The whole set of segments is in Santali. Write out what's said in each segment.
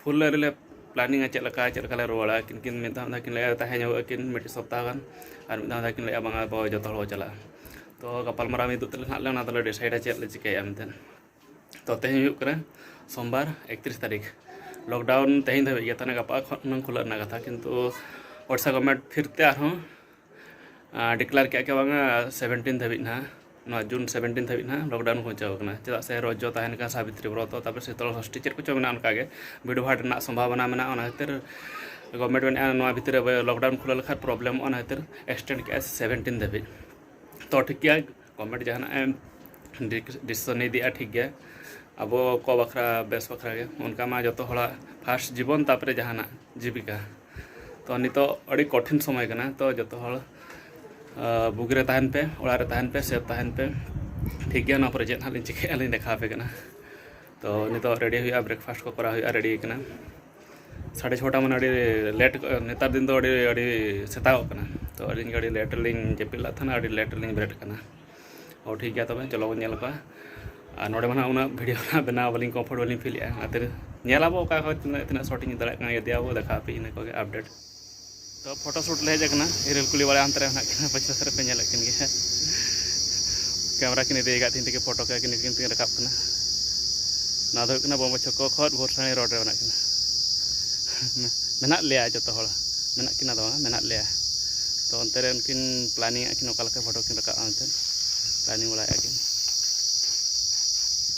ᱯᱷᱩᱞ ᱞᱮ ᱨᱮᱞᱮ ᱯᱞᱟᱱᱤᱝᱟ ᱪᱮᱫ ᱞᱮᱠᱟ ᱪᱮᱫ ᱞᱮᱠᱟ ᱞᱮ ᱨᱩᱣᱟᱹᱲᱟ ᱟᱹᱠᱤᱱ ᱠᱤᱱ ᱢᱤᱫ ᱫᱷᱟᱣ ᱠᱤᱱ ᱞᱟᱹᱭᱟ ᱛᱟᱦᱮᱸ ᱧᱚᱜᱚᱜ ᱟᱹᱠᱤᱱ ᱢᱤᱫᱴᱤᱡ ᱥᱚᱯᱛᱟᱦᱚ ᱜᱟᱱ ᱟᱨ ᱢᱤᱫ ᱫᱷᱟᱣ ᱫᱚᱠᱤᱱ ᱞᱟᱹᱭᱮᱜᱼᱟ ᱵᱟᱝᱟ ᱟᱵᱚ ᱡᱚᱛᱚ ᱦᱚᱲ ᱵᱚᱱ ᱪᱟᱞᱟᱜᱼᱟ ᱛᱚ ᱜᱟᱯᱟᱞᱢᱟᱨᱟᱣ ᱢᱤᱫᱚᱜ ᱛᱟᱞᱮ ᱱᱟᱦᱟᱜ ᱞᱮ ᱚᱱᱟ ᱫᱚᱞᱮ ᱰᱤᱥᱟᱭᱤᱰᱟ ᱪᱮᱫ ᱞᱮ ᱪᱤᱠᱟᱹᱭᱟ ᱢᱮᱱᱛᱮ ᱛᱚ ᱛᱮᱦᱮᱧ ᱦᱩᱭᱩᱜ ᱠᱟᱱᱟ ᱥᱳᱢᱵᱟᱨ ᱮᱠᱛᱨᱤᱥ ᱛᱟᱹᱨᱤᱠᱷ ᱞᱚᱠᱰᱟᱣᱩᱱ ᱛᱮᱦᱮᱧ ᱫᱷᱟᱹᱵᱤᱡ ᱜᱮ ᱛᱟᱦᱚᱞᱮ ᱜᱟᱯᱟ ᱠᱷᱚᱱ ᱦᱩᱱᱟᱹᱝ ᱠᱷᱩᱞᱟᱹᱜ ᱨᱮᱱᱟᱜ ᱠᱟᱛᱷᱟ ᱠᱤᱱᱛᱩ ᱳᱰᱤᱥᱟ ᱜᱚᱵᱷᱢᱮᱱᱴ ᱯᱷᱤᱨᱛᱮ ᱟᱨᱦᱚᱸ ᱰᱤᱠᱞᱟᱨ ᱠᱮᱫᱼᱟ ᱠᱤ ᱵᱟᱝᱟ ᱥᱮᱵᱷᱮᱱᱴᱤᱱ ᱫᱷᱟᱹᱵᱤᱡ ᱱᱟᱦᱟᱜ ᱱᱚᱣᱟ ᱡᱩᱱ ᱥᱮᱵᱷᱮᱱᱴᱤᱱ ᱫᱷᱟᱹᱵᱤᱡ ᱱᱟᱦᱟᱜ ᱞᱚᱠᱰᱟᱣᱩᱱ ᱯᱳᱸᱪᱷᱟᱣ ᱟᱠᱟᱱᱟ ᱪᱮᱫᱟᱜ ᱥᱮ ᱨᱚᱡᱚ ᱛᱟᱦᱮᱱ ᱠᱟᱱᱟ ᱥᱟᱵᱤᱛᱨᱤ ᱵᱨᱚᱛᱚ ᱛᱟᱨᱯᱚᱨᱮ ᱥᱤᱛᱚᱞ ᱥᱚᱥᱴᱤ ᱪᱮᱫ ᱠᱚᱪᱚ ᱢᱮᱱᱟᱜᱼᱟ ᱚᱱᱠᱟᱜᱮ ᱵᱷᱤᱲᱵᱷᱟᱲ ᱨᱮᱱᱟᱜ ᱥᱚᱢᱵᱷᱟᱵᱚᱱᱟ ᱢᱮᱱᱟᱜᱼᱟ ᱚᱱᱟ ᱠᱷᱟᱹᱛᱤᱨ ᱜᱚᱵᱷᱢᱮᱱᱴ ᱢᱮᱱᱮᱫᱼᱟ ᱱᱚᱣᱟ ᱵᱷᱤᱛᱤᱨ ᱨᱮ ᱞᱚᱠᱰᱟᱣᱩᱱ ᱠᱷᱩᱞᱟᱹᱣ ᱞᱮᱠᱷᱟᱱ ᱯᱨᱚᱵᱞᱮᱢᱚᱜᱼᱟ ᱚᱱᱟ ᱠᱷᱟᱹᱛᱤᱨ ᱮᱠᱥᱴᱮᱱᱰ ᱠᱮᱫᱼᱟ ᱥᱮᱵᱷᱮᱱᱴᱤᱱ ᱫᱷᱟᱹᱵᱤᱡ ᱛᱚ ᱴᱷᱤᱠ ᱜᱮᱭᱟ ᱠᱚᱢᱮᱱᱴ ᱡᱟᱦᱟᱱᱟᱜ ᱮᱢ ᱰᱤᱥᱤᱥᱚᱱ ᱤᱫᱤᱜᱼᱟ ᱴᱷᱤᱠ ᱜᱮ ᱟᱵᱚ ᱠᱚ ᱵᱟᱠᱷᱨᱟ ᱵᱮᱥ ᱵᱟᱠᱷᱨᱟ ᱜᱮ ᱚᱱᱠᱟ ᱢᱟ ᱡᱚᱛᱚ ᱦᱚᱲᱟᱜ ᱯᱷᱟᱥᱴ ᱡᱤᱵᱚᱱ ᱛᱟᱯᱚᱨᱮ ᱡᱟᱦᱟᱱᱟᱜ ᱡᱤᱵᱤᱠᱟ ᱛᱚ ᱱᱤᱛᱚᱜ ᱟᱹᱰᱤ ᱠᱚᱴᱷᱤᱱ ᱥᱚᱢᱚᱭ ᱠᱟᱱᱟ ᱛᱚ ᱡᱚᱛᱚ ᱦᱚᱲ ᱵᱩᱜᱤ ᱨᱮ ᱛᱟᱦᱮᱱ ᱯᱮ ᱚᱲᱟᱜ ᱨᱮ ᱛᱟᱦᱮᱱ ᱯᱮ ᱥᱮᱯ ᱛᱟᱦᱮᱱ ᱯᱮ ᱴᱷᱤᱠ ᱜᱮᱭᱟ ᱱᱚᱣᱟ ᱯᱚᱨᱮ ᱪᱮᱫ ᱦᱟᱸᱜ ᱞᱤᱧ ᱪᱤᱠᱟᱹᱭᱟ ᱞᱤᱧ ᱫᱮᱠᱷᱟᱣ ᱟᱯᱮ ᱠᱟᱱᱟ ᱛᱚ ᱱᱤᱛᱚᱜ ᱨᱮᱰᱤ ᱦᱩᱭᱩᱜᱼᱟ ᱵᱨᱮᱠᱯᱷᱟᱥᱴ ᱠᱚ ᱠᱚᱨᱟᱣ ᱦᱩᱭᱩᱜᱼᱟ ᱨᱮᱰᱤ ᱠᱟᱱᱟ ᱥᱟᱲᱮ ᱪᱷᱚᱴᱟ ᱢᱟᱱᱮ ᱟᱹᱰᱤ ᱞᱮᱴ ᱱᱮᱛᱟᱨ ᱫᱤᱱ ᱫᱚ ᱟᱹᱰᱤ ᱟᱹᱰᱤ ᱥᱮᱛᱟᱜᱚᱜ ᱠᱟᱱᱟ ᱛᱚ ᱟᱹᱞᱤᱧ ᱟᱹᱰᱤ ᱞᱮᱴ ᱨᱮᱞᱤᱧ ᱡᱟᱹᱯᱤᱫ ᱞᱮᱫ ᱛᱟᱦᱮᱱᱟ ᱟᱹᱰᱤ ᱞᱮᱴ ᱨᱮᱞᱤᱧ ᱵᱮᱨᱮᱫ ᱠᱟᱱᱟ ᱚ ᱴᱷᱤᱠ ᱜᱮᱭᱟ ᱛᱚᱵᱮ ᱪᱚᱞᱚ ᱵᱚᱱ ᱧᱮᱞ ᱠᱚᱣᱟ ᱟᱨ ᱱᱚᱰᱮ ᱢᱟ ᱱᱟᱦᱟᱜ ᱩᱱᱟᱹᱜ ᱵᱷᱤᱰᱤᱭᱳ ᱱᱟᱦᱟᱜ ᱵᱮᱱᱟᱣ ᱵᱟᱹᱞᱤᱧ ᱠᱚᱢᱯᱷᱚᱨᱴ ᱵᱟᱹᱞᱤᱧ ᱯᱷᱤᱞᱮᱜᱼᱟ ᱚᱱᱟᱛᱮ ᱧᱮᱞᱟᱵᱚ ᱚᱠᱟ ᱠᱷᱚᱡ ᱛᱤᱱᱟᱹᱜ ᱛᱤᱱᱟᱹᱜ ᱥᱚᱴ ᱤᱧ ᱫᱟᱲᱮᱭᱟᱜ ᱠᱟᱱᱟ ᱤᱫᱤᱭᱟᱵᱚ ᱫᱮᱠᱷᱟᱣ ᱟᱯᱮ ᱤᱱᱟᱹ ᱠᱚᱜᱮ ᱟᱯᱰᱮᱴ ᱯᱷᱳᱴᱳ ᱥᱩᱴ ᱞᱮ ᱦᱮᱡ ᱟᱠᱟᱱᱟ ᱤᱨᱟᱹᱞ ᱠᱩᱞᱤ ᱵᱟᱲᱟ ᱦᱟᱱᱛᱮ ᱨᱮ ᱢᱮᱱᱟᱜ ᱠᱤᱱᱟ ᱯᱟᱪᱷᱮ ᱥᱮᱫ ᱨᱮᱯᱮ ᱧᱮᱞᱮᱫ ᱠᱤᱱ ᱜᱮᱭᱟ ᱠᱮᱢᱨᱟ ᱠᱤᱱ ᱤᱫᱤ ᱟᱠᱟᱫ ᱛᱤᱧ ᱛᱮᱜᱮ ᱯᱷᱳᱴᱳ ᱠᱚ ᱠᱤᱱ ᱠᱤᱱ ᱛᱮᱜᱮ ᱨᱟᱠᱟᱵ ᱠᱟᱱᱟ ᱱᱚᱣᱟ ᱫᱚ ᱦᱩᱭᱩᱜ ᱠᱟᱱᱟ ᱵᱚᱢᱵᱮ ᱪᱷᱚᱠᱚ ᱠᱷᱚᱱ ᱵᱷᱳᱨᱥᱟᱬᱤ ᱨᱳᱰ ᱨᱮ ᱢᱮᱱᱟᱜ ᱠᱤᱱᱟ ᱢᱮᱱᱟᱜ ᱞᱮᱭᱟ ᱡᱚᱛᱚ ᱦᱚᱲ ᱢᱮᱱᱟᱜ ᱠᱤᱱᱟ ᱫᱚ ᱵᱟᱝ ᱢᱮᱱᱟᱜ ᱞᱮᱭᱟ ᱛᱚ ᱚᱱᱛᱮ ᱨᱮ ᱩᱱᱠᱤᱱ ᱯᱞᱟᱱᱤᱝ ᱮᱫ ᱠᱤᱱ ᱚᱠᱟ ᱞᱮᱠᱟ ᱯᱷᱳᱴᱳ ᱠᱤᱱ ᱨᱟᱠᱟᱵᱼᱟ ᱢᱮᱱᱛᱮ ᱯᱞᱟᱱᱤᱝ ᱵᱟᱲᱟᱭᱮᱫᱼᱟ ᱠᱤᱱ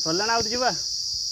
ᱥᱚᱨᱞᱟᱱᱟ ᱩᱫᱩᱡᱩᱵᱟ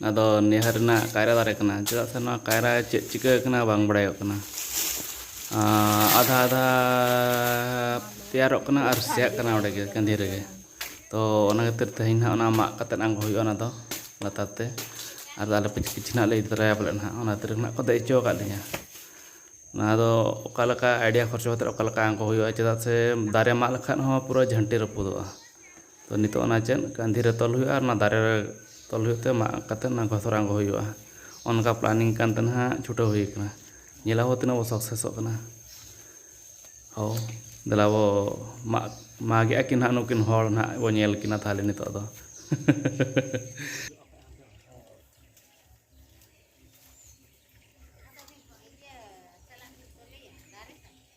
ᱱᱚᱣᱟ ᱫᱚ ᱱᱤᱦᱟᱨ ᱨᱮᱱᱟᱜ ᱠᱟᱭᱨᱟ ᱫᱟᱨᱮ ᱠᱟᱱᱟ ᱪᱮᱫᱟᱜ ᱥᱮ ᱱᱚᱣᱟ ᱠᱟᱭᱨᱟ ᱪᱮᱫ ᱪᱤᱠᱟᱹ ᱟᱠᱟᱱᱟ ᱵᱟᱝ ᱵᱟᱲᱟᱭᱚᱜ ᱠᱟᱱᱟ ᱟᱫᱷᱟ ᱟᱫᱷᱟ ᱛᱮᱭᱟᱨᱚᱜ ᱠᱟᱱᱟ ᱟᱨ ᱥᱮᱭᱟᱜ ᱠᱟᱱᱟ ᱚᱸᱰᱮ ᱜᱮ ᱠᱟᱺᱫᱷᱤ ᱨᱮᱜᱮ ᱛᱚ ᱚᱱᱟ ᱠᱷᱟᱹᱛᱤᱨ ᱛᱮᱦᱮᱧ ᱦᱟᱸᱜ ᱚᱱᱟ ᱢᱟᱜ ᱠᱟᱛᱮ ᱟᱬᱜᱚ ᱦᱩᱭᱩᱜᱼᱟ ᱚᱱᱟ ᱫᱚ ᱞᱟᱛᱟᱨ ᱛᱮ ᱟᱨ ᱟᱞᱮ ᱯᱤᱪᱷᱤ ᱯᱤᱪᱷᱤ ᱦᱟᱸᱜ ᱞᱮ ᱤᱫᱤ ᱛᱚᱨᱟᱭᱟ ᱯᱟᱞᱮᱫ ᱦᱟᱸᱜ ᱚᱱᱟ ᱠᱷᱟᱹᱛᱤᱨ ᱦᱟᱸᱜ ᱠᱚ ᱫᱮᱡ ᱦᱚᱪᱚ ᱟᱠᱟᱫ ᱞᱤᱧᱟᱹ ᱱᱚᱣᱟ ᱫᱚ ᱚᱠᱟ ᱞᱮᱠᱟ ᱟᱭᱰᱤᱭᱟ ᱠᱷᱚᱨᱪᱟ ᱠᱟᱛᱮ ᱚᱠᱟ ᱞᱮᱠᱟ ᱟᱬᱜᱚ ᱦᱩᱭᱩᱜᱼᱟ ᱪᱮᱫᱟᱜ ᱥᱮ ᱫᱟᱨᱮ ᱢᱟᱜ ᱞᱮᱠᱷᱟᱱ ᱦᱚᱸ ᱯᱩᱨᱟᱹ ᱡᱷᱟᱹᱱᱴᱤ ᱨᱟᱹᱯᱩᱫᱚᱜᱼᱟ ᱛᱚ ᱱᱤᱛᱚᱜ ᱚᱱᱟ ᱪᱮᱫ ᱠᱟᱺᱫᱷᱤ ᱨᱮ ᱛᱚᱞ ᱦᱩᱭᱩᱜᱼᱟ ᱟᱨ ᱚᱱᱟ ᱫᱟᱨᱮ ᱨᱮ ᱛᱚᱞ ᱦᱩᱭᱩᱜ ᱛᱮ ᱢᱟᱜ ᱠᱟᱛᱮ ᱚᱱᱟ ᱜᱷᱚᱥᱚᱨ ᱟᱬᱜᱚ ᱦᱩᱭᱩᱜᱼᱟ ᱚᱱᱠᱟ ᱯᱞᱟᱱᱤᱝ ᱠᱟᱱᱛᱮ ᱱᱟᱦᱟᱜ ᱪᱷᱩᱴᱟᱹᱣ ᱦᱩᱭ ᱠᱟᱱᱟ ᱧᱮᱞᱟᱵᱚ ᱛᱤᱱᱟᱹᱜ ᱵᱚ ᱥᱟᱠᱥᱮᱥᱚᱜ ᱠᱟᱱᱟ ᱦᱳ ᱫᱮᱞᱟ ᱵᱚ ᱢᱟᱜ ᱢᱟᱜᱮᱜᱼᱟ ᱠᱤᱱ ᱱᱟᱦᱟᱜ ᱱᱩᱠᱤᱱ ᱦᱚᱲ ᱱᱟᱦᱟᱜ ᱵᱚ ᱧᱮᱞ ᱠᱤᱱᱟ ᱛᱟᱦᱚᱞᱮ ᱱᱤᱛᱚᱜ ᱫᱚ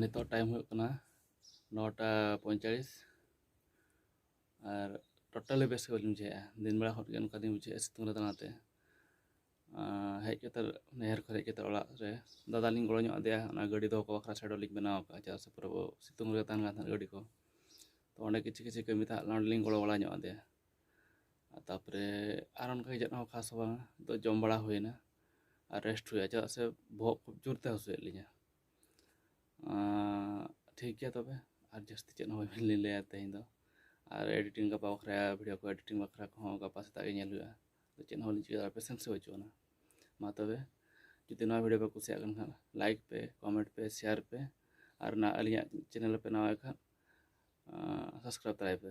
ᱱᱤᱛᱚᱜ ᱴᱟᱭᱤᱢ ᱦᱩᱭᱩᱜ ᱠᱟᱱᱟ ᱱᱚᱴᱟ ᱯᱚᱸᱭᱪᱟᱲᱤᱥ ᱟᱨ ᱴᱳᱴᱟᱞᱤ ᱵᱮᱥ ᱜᱮ ᱵᱟᱹᱞᱤᱧ ᱵᱩᱡᱷᱟᱹᱣᱮᱜᱼᱟ ᱫᱤᱱ ᱵᱮᱲᱟ ᱦᱚᱸ ᱚᱱᱠᱟ ᱞᱤᱧ ᱵᱩᱡᱷᱟᱹᱣᱮᱜᱼᱟ ᱥᱤᱛᱩᱝ ᱨᱮ ᱫᱟᱬᱟᱛᱮ ᱦᱮᱡ ᱠᱟᱛᱮᱫ ᱱᱟᱹᱭᱦᱟᱹᱨ ᱠᱷᱚᱱ ᱦᱮᱡ ᱠᱟᱛᱮᱫ ᱚᱲᱟᱜ ᱨᱮ ᱫᱟᱫᱟ ᱞᱤᱧ ᱜᱚᱲᱚ ᱧᱚᱜ ᱟᱫᱮᱭᱟ ᱚᱱᱟ ᱜᱟᱹᱰᱤ ᱫᱚᱦᱚ ᱠᱟᱜ ᱵᱟᱠᱷᱨᱟ ᱥᱮᱰᱚ ᱞᱤᱧ ᱵᱮᱱᱟᱣ ᱠᱟᱜᱼᱟ ᱪᱮᱫᱟᱜ ᱥᱮ ᱯᱩᱨᱟᱹ ᱥᱤᱛᱩᱝ ᱨᱮ ᱛᱟᱦᱮᱱ ᱠᱟᱱ ᱛᱟᱦᱮᱸᱫ ᱜᱟᱹᱰᱤ ᱠᱚ ᱛᱚ ᱚᱸᱰᱮ ᱠᱤᱪᱷᱩ ᱠᱤᱪᱷᱩ ᱠᱟᱹᱢᱤ ᱛᱟᱦᱮᱸ ᱞᱮᱱᱟ ᱚᱸᱰᱮ ᱞᱤᱧ ᱜᱚᱲᱚ ᱵᱟᱲᱟ ᱧᱚᱜ ᱟᱫᱮᱭᱟ ᱛᱟᱯᱚᱨᱮ ᱟᱨ ᱚᱱᱠᱟ ᱪᱮᱫ ᱦᱚᱸ ᱠᱷᱟᱥ ᱵᱟᱝ ᱛᱚ ᱡᱚᱢ ᱵᱟᱲᱟ ᱦᱩᱭᱮᱱᱟ ᱟᱨ ᱨᱮᱥᱴ ᱦᱩᱭᱩᱜᱼᱟ ᱪᱮᱫᱟᱜ ᱥᱮ ᱵᱚᱦᱚᱜ ᱠᱷᱩᱵ ᱡᱳᱨ ᱛᱮ ᱦᱟᱹᱥᱩᱭᱮᱫ ᱞᱤᱧᱟᱹ ᱴᱷᱤᱠ ᱜᱮᱭᱟ ᱛᱚᱵᱮ ᱟᱨ ᱡᱟᱹᱥᱛᱤ ᱪᱮᱫ ᱦᱚᱸ ᱵᱟᱹᱞᱤᱧ ᱞᱟᱹᱭᱟ ᱛᱮᱦᱮᱧ ᱫᱚ ᱟᱨ ᱮᱰᱤᱴᱤᱝ ᱜᱟᱯᱟ ᱵᱟᱠᱷᱨᱟ ᱵᱷᱤᱰᱭᱳ ᱠᱚ ᱮᱰᱤᱴᱤᱝ ᱵᱟᱠᱷᱨᱟ ᱠᱚᱦᱚᱸ ᱜᱟᱯᱟ ᱥᱮᱛᱟᱜ ᱜᱮ ᱧᱮᱞ ᱦᱩᱭᱩᱜᱼᱟ ᱪᱮᱫ ᱦᱚᱸ ᱵᱟᱹᱞᱤᱧ ᱪᱤᱠᱟᱹ ᱫᱟᱲᱮᱭᱟᱜᱼᱟ ᱯᱮᱥᱮᱱᱥ ᱜᱮ ᱵᱟᱹᱪᱩᱜ ᱟᱱᱟ ᱢᱟ ᱛᱚᱵᱮ ᱡᱩᱫᱤ ᱱᱚᱣᱟ ᱵᱷᱤᱰᱭᱳ ᱯᱮ ᱠᱩᱥᱤᱭᱟᱜ ᱠᱟᱱ ᱠᱷᱟᱱ ᱞᱟᱭᱤᱠ ᱯᱮ ᱠᱚᱢᱮᱱᱴ ᱯᱮ ᱥᱮᱭᱟᱨ ᱯᱮ ᱟᱨ ᱱᱟ ᱟᱹᱞᱤᱧᱟᱜ ᱪᱮᱱᱮᱞ ᱯᱮ ᱱᱟᱣᱟ ᱠᱷᱟᱱ ᱥᱟᱵᱥᱠᱨᱟᱭᱤᱵᱽ ᱛᱟᱨᱟᱭ ᱯᱮ